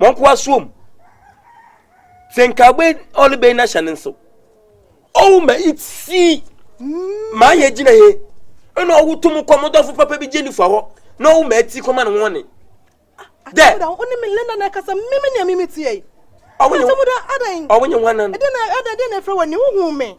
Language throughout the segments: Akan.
wɔn nkoa soɔ mu sɛ nka ɔbɛ ɔne bɛyi n'ahyɛ ne nso ɔwɔ ma eti maa yɛ gyina he ɛna ɔwɔ tum kɔ ɔmo dɔfo papa bi gye nifa hɔ na ɔwɔ ma eti kɔma ne ho ɔne dɛ ɔne mi lena na ɛkasa mímí nea mímí tiɛ yi ɔwɔ nye ɔwɔ nye ho anan ɛdɛ na ɛdɛ ɛdɛ na efra wɔ ni huhu mi.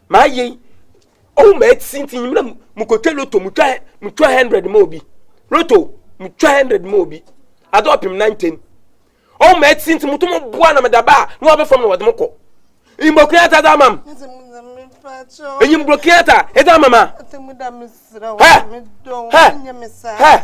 Mayɛ yi, ɔhu m'asi nti nyimena mokɔtwa loto, motwa motwa hundred ma obi. Loto, motwa hundred ma obi. Adze ɔpem nan ten. Ɔhu m'asi nti moto mo boa na meda ba a na ɔaba fam na wɔdze mo kɔ. Enyimbrɔ Kenyatta adze ama m'. Enyimbrɔ Kenyatta edze ama m' a. Hɛ! Hɛ! Hɛ!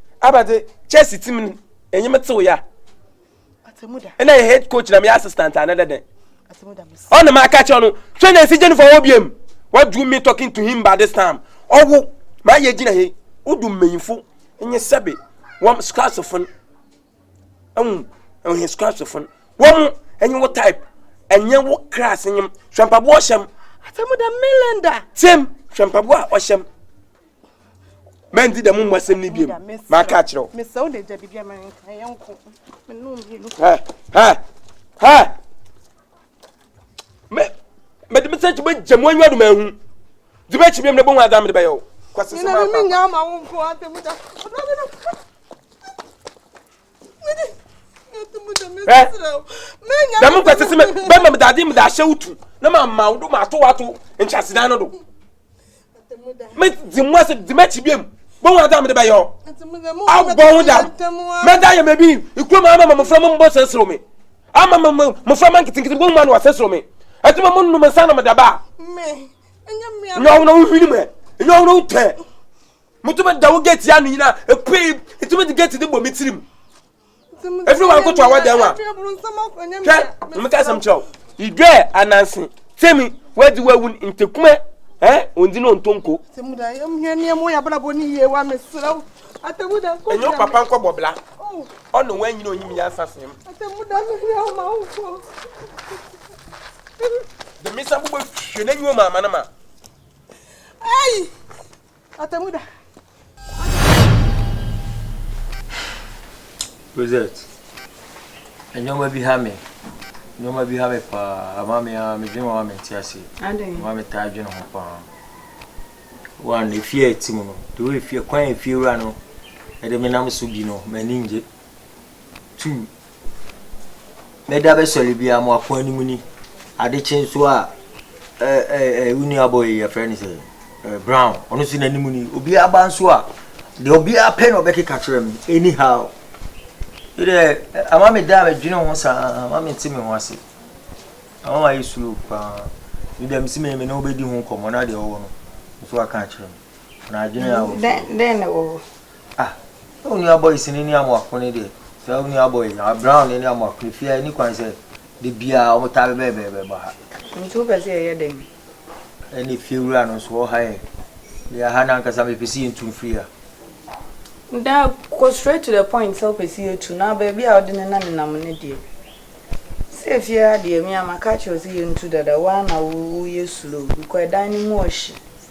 abadze Chelsea tsim no enye me tsew yɛ a nna yɛ head coach na meyɛ assistant ana dɛ dɛn ɔna maka kyerɛ no twɛ na nsi gye no fa hɔ biam what do you mean talking to him by this time ɔwo maa yɛ gyina he wodu mmanyimfo nye sɛbe wɔm scratsfo no ɛhu ɛhe scratsfo no wɔm ɛnye wo type ɛnyɛ wo class nyem hwɛ mpaboa ɔhyɛm atemuda melenda tim hwɛ mpaboa ɔhyɛm mɛndi dɛm mu asɛm no biom maka akyerɛ wo mede me sɛ kyi bɛgya mu anwa doma ahu de bɛkyi biom na bɛhu ada mede bɛyɛ wo kwasɛ sɛ mafa dɛm nkwasɛ sɛ bɛma medade mede ahyɛ wo tu na mama wo do mato wato nkyasedan no do mɛdzi mu ase dzi m'akyi biom bɔhu adze a mede bɛyɛ ɔ abɔ ho dam mɛda yɛ mɛbi ikuo mu ama mmɔfra mu mbɔ sɛ soro me ama mmɔfra ma nketenkete bɔhu ma no ɔsɛ soro me ɛti ma mo nnom nsa na mede ba a nyɛ ɔhono wo hwini mu ɛ nyɛ ɔhono wo tɛ motumi da wo gate ano nyina ɛpue ɛtumi de gate de bɔ me tirim ɛfiri wɔn akoto a wɔdɛn wa hwɛ wɔn ka asɛm kyerɛw idwa ananse fɛmi wɔadi wɔawu ntekumɛ ɛn ondi na ontonko. ɛnyɛ papa nkɔ bɔbla ɔna wɔn anyina onyim yɛ asa sɛm. dɛmisa bobɔ hwɛ n'enyiwa mu ama no ma. Atemuda. Rosette, nneɛma bi ha me. Nneɛma bi ha me paa. Ama me a medwene ho a mente ase. Ama me taa dwene ho paa. One, efie a ɛte mu no, the way efie, kwan a efie wura no, ɛde me nam so bi no, m'ani ngye. Two, Mɛda bɛsɔre biara mo afoa no mu ni. Ade kye nso a, wo nuabɔ yi yɛfrɛ no sɛ Brown, ɔno nso n'anim ni. Obiara ba nso a, deɛ obiara pɛ na ɔbɛkeka kyerɛ me anyhow. Deɛ ama me da a medwene ho saa, ama me te me ho ase. Ama ma yɛ slow paa. Me deɛ mesi me me ne wobɛdi ho nkɔmmɔ na deɛ ɔwɔ no nso aka akyerɛ me. Na adwene a wɔ. Dɛn na wɔ hɔ? Ah na wo nua boys no ne Amoako no deɛ saa wo nua boys no Brown no ne Amoako no fie ha ɛni kwan sɛ da biara wɔn taa bɛbɛɛ bɛɛ bɛɛ bɔ ha. Nti wopɛ sɛ yɛyɛ dɛn? Ɛna efie wura no nso ɔha yɛn deɛ aha no ankasa mepɛ sɛ yɛntu mfiri ha. Na kɔ straight to the point sɛ wopɛ sɛ yɛtu na baabi a wode ne na nenam no deɛ sɛ efie ha deɛ me a maka akyerɛ wo sɛ yɛntu dada wo ara na wo yɛ slow kɔ ɛdan no mu ɔhye.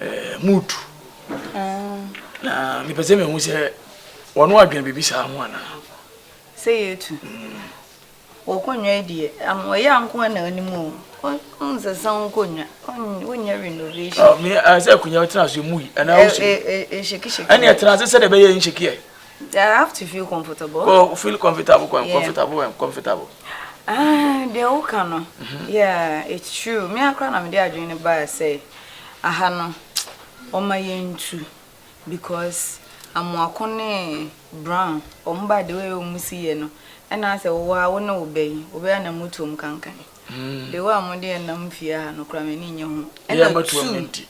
ɛɛ mood na mepɛ sɛ mehu sɛ wɔn adwene biribi saa ho anaa sɛ yɛtu wɔkɔnwa deɛ wɔyɛ anko na anim o nsesa wo kɔnwa wonyɛ renovation sɛ akonnwa tena so mui anaa wosu ɛhyɛkihyɛki ɛne ɛtena ase sɛdeɛ ɛbɛyɛ nhyɛkiɛ Yeah, I have to feel comfortable. Oh, feel comfortable, com- yeah. comfortable, um, comfortable. Ah, they all can. No. Mm-hmm. Yeah, it's true. Me I cry na me dey adwene ba say, aha no, oma yentu because amoako ne brown. Omo ba the way omo si ye no. And I say, wo a wo ne obey, obey na mutom kankan. Mm. The way omo dey na mfie ha no kra me ni nye ho. Yeah, but two.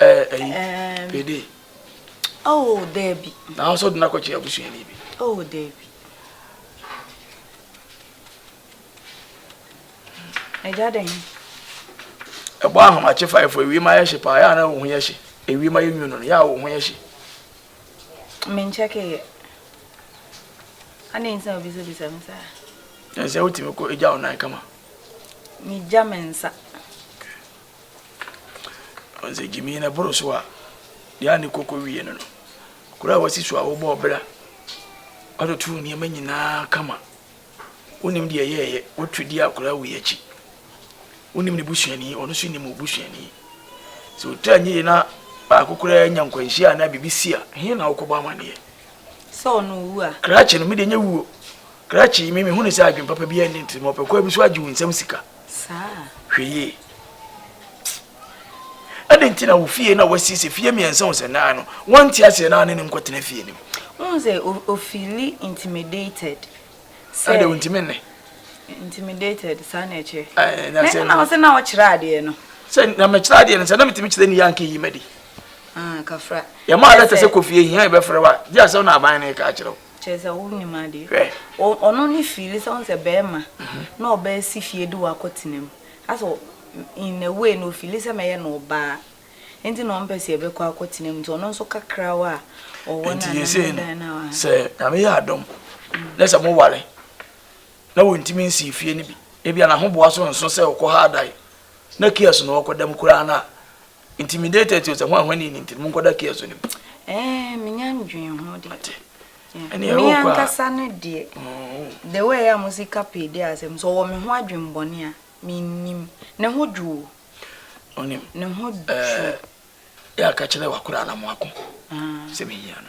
ɛɛ eh, ɛyi eh, pede. oh daabi. na ahosuo de n'akɔkye abusuani bi. oh daabi. ɛgya dɛn. ɛbɔ ahomakye faefo ewie ma yɛ hye paa yɛ a na wo ho yɛ hye ewie ma yɛ nwu no yɛ a wo ho yɛ hye. menkyɛ keyɛ ana nsa obisabisa me saa. ɛnsɛ wotumi kɔ egya wo nan kama. megya me nsa. Ɔdze gyimii na bor so a, dza ne koko wie no no, kor a wɔse su a wɔbɔɔ ber a wɔtotoo nneɛma nyinaa kama. Wonnim deɛ ɛyɛeɛ, wɔtu di a koraa wei akyi. Wonnim ne busuani, ɔno nso nnim wo busuani. Sɛ ɔtaa nyɛ yie na baako koraa nya nkwanhyia anaa biribi si a, he na wokɔbɔ amaneɛ? Sɛ ɔno wu a? Krakye no, me deɛ nyɛ wuo. Krakye yi, me mehu no sɛ adwene papa biara nni ne tirim. Ɔpɛ kwan bi so agye wo nsam sika. Saa a. Hwɛ yie. Adɛn nti na wo fie na wasiesie fie mmiɛnsa hu sɛ naa no wonte aseɛ naa ne no nkɔtena fie no mu? Wohu sɛ ofili intimidated sɛ. Ɛdeɛ ontumi nne. Intimidated saa na ɛkyerɛ. Ɛɛ na sɛ. Na na ɔsɛ na ɔkyerɛ adeɛ no. Sɛ na mekyerɛ adeɛ no sɛ na metumi kyerɛ ne yɛ anka eyi ma di. Ah kafra. Yɛmaa lɛtɛ sɛ kɔ fie hia yɛbɛfrɛ wo a gye asɛm na aban no reka akyerɛ wo. Kyerɛ sɛ wonnim adeɛ. Hwɛ. O, ɔno ne fiili sɛ, wohu sɛ barima na ɔbɛsi fie de wo akɔtena mu. Asɛ in a way no ɔfiili sɛ mɛyɛ no ɔbaa nti na ɔmpɛ sɛ yɛbɛkɔ akɔtena mu nti ɔno nso kakrawa a ɔwɔ no anaa ne dan no a. Sɛ Nyame yɛ adom na sɛ mo ware na wɔntumi nsii fie no bi, ebia n'ahoboa so nso sɛ ɔkɔha dae na kiɔs na ɔkɔda mu koraa no a, Intimidated to sɛ ho ahwani ni nti mo nkɔda care so nim. Ɛɛ menya ndwen ho de. Ate. Ɛne ɛwɔ kwa. Me ankasa no deɛ. Mm-hmm. The way a mo sika pay de asɛm so wɔ me ho adwen bɔne a me nim. Ne ho dwo. Onim. Ne ho dwo. Ɛɛ yɛ aka kyerɛ wakora na mo ako. Ah. Sɛ me hia no.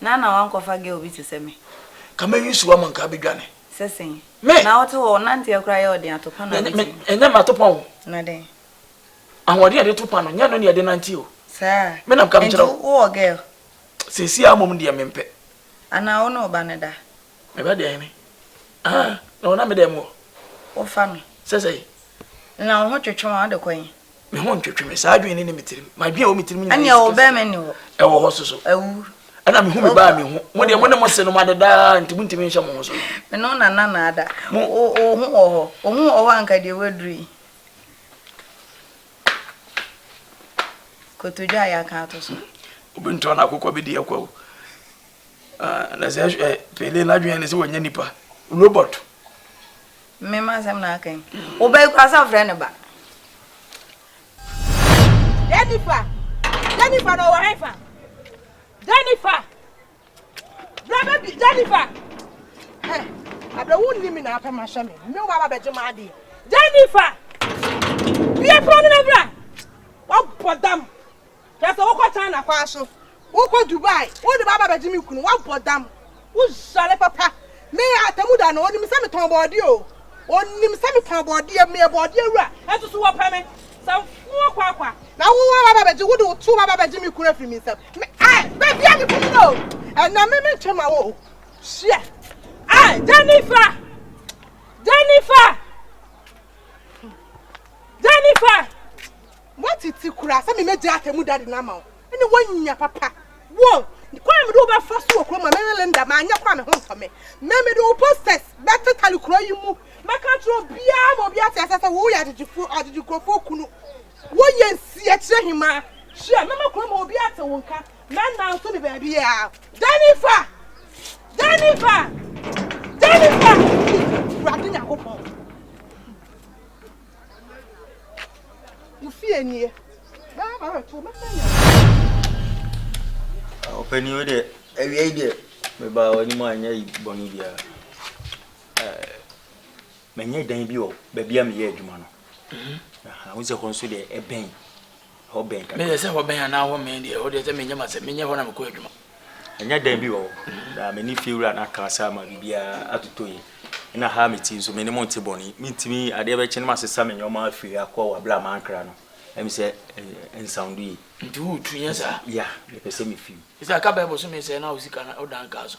Na na wankɔfa girl bi te sɛ me. Ka me use wɔ mo nka bi dwane. Sɛ sɛn. Me. Na wote hɔ wonanteɛ koraa yɛ ɔden ato pa na wodi mu. Ɛnyɛ me ato pa o. Na dɛn. Ahoɔden a yɛde to pa no nyɛ ɛno na yɛde nante o. Saa. Me na meka mekyerɛ wo. Nti wowɔ girl. Seesei ara mmom deɛ mempɛ. Anaa wo ne wo ba no da. Me ba deɛ me. Ah, na ɔnam me dɛm hɔ. Wofa no. Sɛ sɛn. Na wo ho twetwe wo a wode kɔ he. me ho ntwetwe me saa adwene ne ne me tirim m'adwene a ɛwɔ me tirim nyinaa ɛne ɛwɔ bɛn me ne wɔ ɛwɔ hɔ so so awu ɛna me hu me baa me ho mo deɛ mo ne mo se no mo adedaa nti mo ntumi nhyɛ mo ho so me no na na na ada mo o o ho wɔ hɔ o ho wɔ hɔ anka deɛ waduru yi kotodwa a yɛaka ato so obi ntɔ na akokɔ bi di ɛkwa o ah, na sɛ eh, pele n'adwene ne sɛ wɔnyɛ nipa robot Me ma asɛm na aka yi. Wo ba yi koraa sɛ frɛ ne ba. Jennifer! Jennifer na ɔwɔ hɛnfa? Jennifer! Bra baby, Jennifer! Hɛ, abɛ wo nni mi na apɛ ma hyɛ me. Me wo ba ba bɛgye ma adeɛ. Jennifer! Bia pɔn no na bra! Wabɔ dam. Na sɛ wokɔ China kwan so, wokɔ Dubai, wode bɛaba abɛgye me kunu, woabɔ dam, wosɔre papa. Me atemmu da no, onim sɛ metɔn bɔɔdeɛ o, onim sɛ mefɔn bɔɔdeɛ, meyɛ bɔɔdeɛ wura. Nanso so wɔpɛ me sɛ mfɔn kwaakwa? Na wo ara bɛba abɛgye, wode wo to bɛba abɛgye me kunu afiri me nsam. Me ai, bɛbia me kunu no o, ɛnna me mentwe mma wo o, hyeɛ. Ai, Jennifer! Jennifer! Jennifer! Woatete koraa sɛ mebɛgyaa Atemmu Dade no ama wo ne woanya papa wɔ kwan a mede wo bɛfa so wɔ kurom a mene Linda manyɛ kɔ a me ho ntɔ me. Me, mede wo posters bɛtetare kuro yi mu. Mɛka akyerɛ obiara ma obi ate aseɛ sɛ wo yɛ agyegyefoɔ, agyegye nkurɔfoɔ kunu. Wo yɛ nsiakyerɛ hemaa. Hyia, mɛma kurom hɔ obiara ate wo nka. Mɛnanso ne baabiara. Jennifer! Jennifer! Jennifer! Awurade Nyankopɔn! Ɔpanin wo deɛ, awia yi deɛ mebaa w'anim a nyɛ bɔne biara. Manya dan bi wɔ baabi a meyɛ adwuma no. Wohu sɛ hɔ nso deɛ ɛbɛn. hɔ bɛn kakra. Meyɛ sɛ hɔ bɛn anaa hɔ mmɛn deɛ, ɛhɔ deɛ sɛ menyɛ m'asɛm, menyɛ hɔ na mekɔ adwuma. Ɛnyɛ dɛn bi wɔ hɔ, na me ne fiewura no aka asa ama biribiara atotɔ yie. Ɛnna ha a mete yi nso, me ne mo nte bɔne. Mentumi, adeɛ bɛkye na masesa me nneɛma afiri ha akɔ wɔ berɛ a mankra no. Ɛyɛ me sɛ ɛnsawndo yie. Nti woretu, nyɛ saa? Yeah, mepɛ sɛ mefi mu. Sɛ ɛka bɛɛ bosome sɛn na wo sika no wodan kaa so?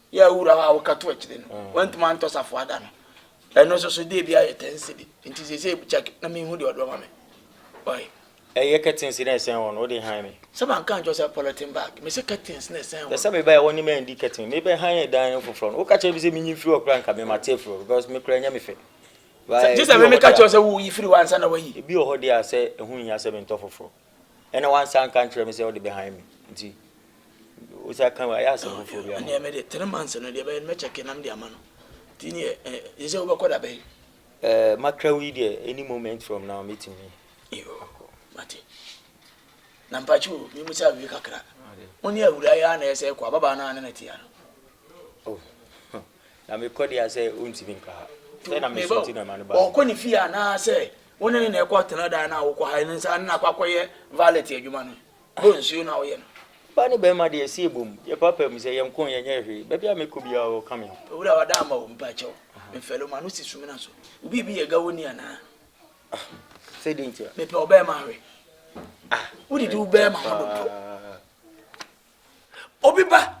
Yɛ wura hɔ a woka to akyire no mm. wantumi antɔ safoa da no ɛno nso so deɛ bi ayɛ ten cedi nti sese check na mehu deɛ ɔde ɔma me ɔyɛ ɛyɛ curtains na ɛsɛn hɔ no wode han me sɛ manka nkyɛ sɛ polythene bag mese curtains na ɛsɛn hɔ sɛ mebɛyɛ wɔne ma ndi curtain mebɛ han yɛ dan foforɔ no woka kyerɛ bi sɛ menyi mfiri ɔkora nka me mate afiri because mekora nyɛ me fɛ gye sɛ memeka kyerɛ sɛ woyi firi hɔ ansa na wayi ebi wɔ hɔ deɛ a sɛ ɛho hia sɛ mentɔ foforɔ Ɛna wansa anka ankyerɛ me sɛ ɔde bɛhan me nti wosa ka ayɛ asɛm foforɔ bi ama. Ɛneɛ mede three months no deɛ bɛyɛ no mɛkyɛke na mede ama no nti neɛ ɛyɛ sɛ wobɛkɔ da bɛn. Uh, makra wei deɛ any moment from now mɛtumi akɔ. Mate. Na mpakye o memu sɛ awie kakra. Wo ne awura yɛ a na ɛsɛ kɔ ababaa no a na na tia no. Oh. Na me kɔ deɛ sɛ ɔntumi nka ha. Sɛ na me so ti na ma no ba. Ɔkɔ ne fie anaa sɛ wo ne ne na ɛkɔ tena dan no a wokɔ ha ne nsa ne na akɔ akɔyɛ valet adwuma no. Bɔ nsuo na woyɛ no. Ɔbaa ne barima deɛ ɛsi ɛbom. Yɛ papa mu sɛ yɛn nko yɛnyɛ hwee. Baabi a me kɔ biara wɔ ka me ho. Owura wada ama o mpakyɛw. Me fɛlo ma no si sumina so. Wo biribi yɛ gawo ni anaa. Ah sɛ dɛn ntia. Me pɛ ɔbɛɛma hwɛ. Ah. Wo didi wo bɛɛma ho dodo. obi ba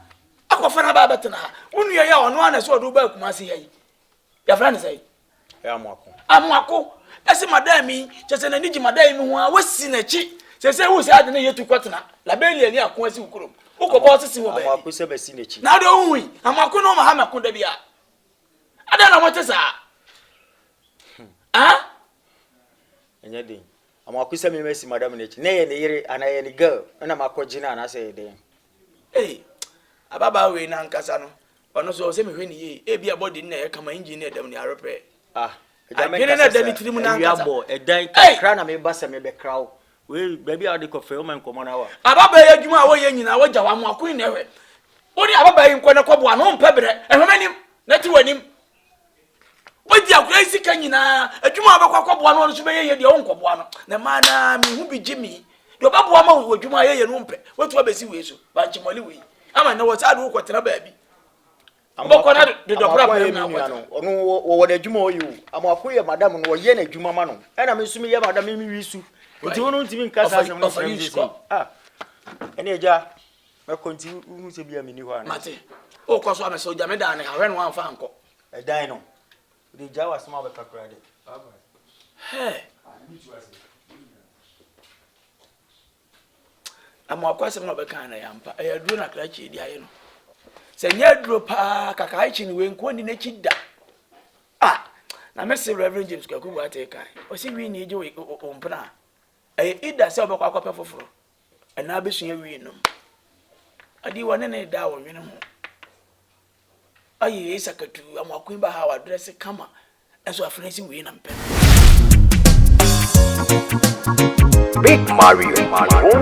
akɔfa no aba abɛtena ha wo nua yi a ɔno ana sɛ ɔde wo ba akuma se ha yi yɛfrɛ no sɛ amoako ɛse madam yi kyɛ sɛ n'ani gye madam yi ho a wasi n'akyi sɛ sɛ wo sɛ ade ne yɛtu kɔtena labelia ni ako asi wo kurom wokɔbɔ sese wɔ baabi na wode wohu yi amoako ne ɔma ha mɛko da bia adɛn na mote saa hmm. ah? ɛnyɛ den Ama waku sɛ me masi madam no akyi na ɛyɛ ne yere anaa ɛyɛ ne girl me na makɔ gye no anaasɛ ɛyɛ dɛn. Ei! Ababaa wei no ankasa no, ɔno nso ɛwɔ sɛ mehwɛ no yie. Ebia body no na ɛyɛ kama, engine no ɛdam ni ara pɛ. Ah! Agya me nkasa saa, awia bɔ, ɛdan kakra na meba sɛ mebɛkra wo. Wei, baabi a wode kɔ fɛ, woma nkɔmmɔ no awa. Ababaa yi adwuma a wɔyɛ nyinaa wagya hɔ, ama waku yi na ɛhwɛ. Wo ne ababaa yi nkɔ na kɔboa no, wompɛ berɛ. Hwɛ m'anim, na ti w'anim. wadi akora yi sika nyinaa adwuma a ɔbɛkɔ akɔboa no ɔno nso bɛyɛ yɛ deɛ ɔnkɔboa no na maa naa me ho bi gye me deɛ ɔbɛboa ma wɔ adwuma a yɛyɛ no mpɛ woatu abɛsi wei so bankyemɔle wei ama nnɛ wɔ saa de wokɔtena baabi wobɛkɔ na dodɔpra bɛm na akɔtena ɔno wɔwɔ n'adwuma ɔyɛ o amoako yɛ madam no ɔyɛ n'adwuma ma no ɛna me nso meyɛ madam memewi su nti wo no ntumi nka saa asɛm no frɛ me sɛ ɛne agya Mɛkɔ nti wohu sɛ bia menni hɔ anaa? Mate. Wokɔ so a mese ogya me dan no ha, hwɛ na woamfa ankɔ. Ɛdan no? Wode gyae w'asɛm a wobɛka koraa dɛ. Hɛɛ. Amoako asɛm na ɔbɛka na ɛyɛ ampa. Ɛyɛ aduro na krakye de ayɛ no. Sɛ nyɛ aduro paa kakaakye ne wei nko ni n'akyi da. Ah, na mese Reverend James Kwaku Boateng kan. Ɔse wi ni gye wo mpena. Ɛyɛ ida sɛ ɔbɛkɔ akɔpɛ foforɔ. ɛna abɛsua wii nom adi wɔ ne ne da wɔ nwene ho ayi yei sakatu amoako ba ha wadrɛse kama ɛnso afei si wii na mpɛ no Big Mario, Mario.